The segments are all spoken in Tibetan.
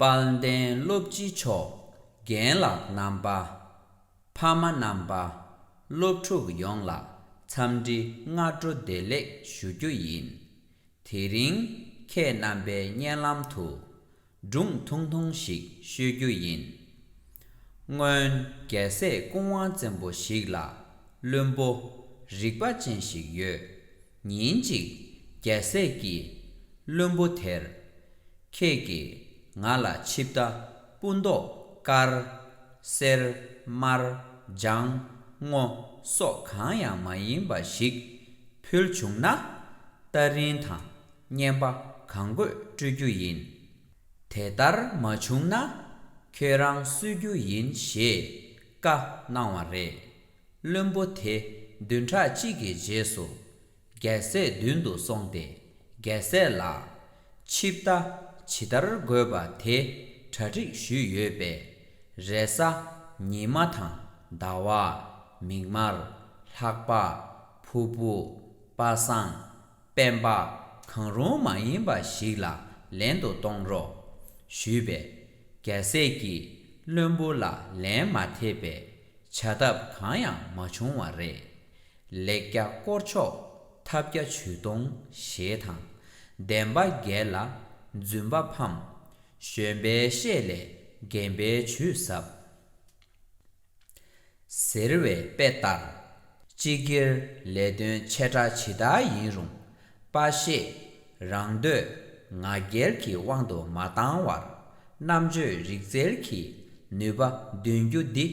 དཔལ་ལྡན་བློ་བགྱིད་མཆོག་རྒན་ལགས་རྣམ་པ། ཕ་མ་རྣམ་པ། སློབ་ཕྲུག་ཡོངས་ལ་འཚམས་འདྲི་སྔ་དྲོ་བདེ་ལེགས་ཞུ་རྒྱུ་ཡིན། དེ་རིང་ཁྱེད་རྣམ་པའི་སྙན་ལམ་དུ། སྒྲུང་ཐུང་ཐུང་ཞིག་ཤོད་རྒྱུ་ཡིན། སྔོན་རྒྱལ་སྲས་ཀུན་དབང་བཙན་པོ་ཞིག་ལ་བླུན་པོ་རིག་པ་ཅན་ཞིག་ཡོད། ཉིན་ཅིག་རྒྱལ་སྲས་ཀྱིས་བློན་པོ་དེར། ཁྱེད་ཀྱིས་ང་ལ་ཆིབས་རྟ་སྤུ་མདོག་དཀར། སེར། དམར། ལྗང། སྔོ། སོགས་གང་ཡང་མ་ཡིན་པ་ཞིག་ཕུལ་བྱུང་ན། རྟ་རིན་དང་བསྙེན་པ་གང་དགོས་སྤྲོད་རྒྱུ་ཡིན། དེ་ལྟར་མ་བྱུང་ན། ཁྱོད་རང་གསོད་རྒྱུ་ཡིན་ཞེས་བཀའ་གནང་བ་རེད། བློན་པོ་དེ་བདུན་ཕྲག་གཅིག་གི་རྗེས་སུ། རྒྱལ་སྲས་མདུན་དུ་སོང་སྟེ་རྒྱལ་སྲས་ལ། ཆིབས་རྟ་ཇི་ལྟར་དགོས་པ་དེ་གྲ་སྒྲིག་ཞུས་ཡོད་པས། རས་གཟའ། ཉི་མ་དང་ཟླ་བ། མིག་དམར། ལྷགས་པ། ཕུར་བུ། པ་སངས། སྤེན་པ། གང་རུང་མ་ཡིན་པ་ཞིག་ལ་ལེན་དུ་གཏོང་རོགས། ཞུས་པས། རྒྱལ་སྲས་ཀྱིས་བློན་པོ་ལ་ལན་མ་ཐེབས་པས། བྱ་ཐབས་གང་ཡང་མ་བྱུང་བ་རེད། ལེགས་སྐྱ་བསྐོར་ཆོག་ཐབས་སྐྱ་བྱུས་གཏོང་ཞེས་དང། བདེན་པ་འགེལ་ལ་རྫུན་པ་ཕམ། གཞོན་པའི་བཤེས་ལས་རྒན་པའི་བྱུས་ཟབ། ཟེར་བའི་དཔེ་ལྟར། སྤྱི་སྒེར་ལས་དོན་ཆེ་ཕྲ་ཇི་ལྟར་ཡིན་རུང། པ་ཤེས། རང་འདོད་ང་རྒྱལ་གྱི་དབང་དུ་མ་བཏང་བར། རྣམ་དཔྱོད་རིག་རྩལ་གྱིས་ནུས་པ་འདོན་རྒྱུ་འདི།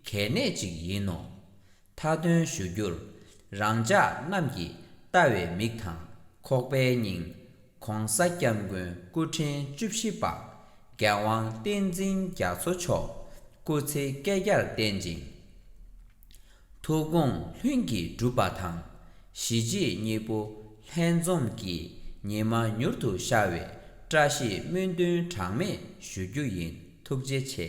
གལ་གནད་ཅིག་ཡིན་ནོ། མཐའ་དོན་ཞུ་རྒྱུར། རང་ཅག་རྣམས་ཀྱིས་ལྟ་བའི་མིག་དང་ཁོག་པའི་སྙིང། ྋགོང་ས ྋསྐྱབས་མགོན་སྐུ་ཕྲེང་བཅུ་བཞི་པ། རྒྱལ་དབང་བསྟན་འཛིན་རྒྱ་མཚོ་མཆོག་སྐུ་ཚེ་བསྐལ་བརྒྱར་བརྟན་ཅིང། ཐུགས་དགོངས་ལྷུན་གྱིས་གྲུབ་པ་དང། གཞི་བྱེས་གཉིས་པོ་ལྷན་འཛོམས་ཀྱིས་ཉི་མ་མྱུར་དུ་ཤར་བའི་བཀྲ་ཤིས་སྨོན་འདུན་གྲངས་མེད་ཞུ་རྒྱུ་ཡིན་ཐུགས་རྗེ་ཆེ།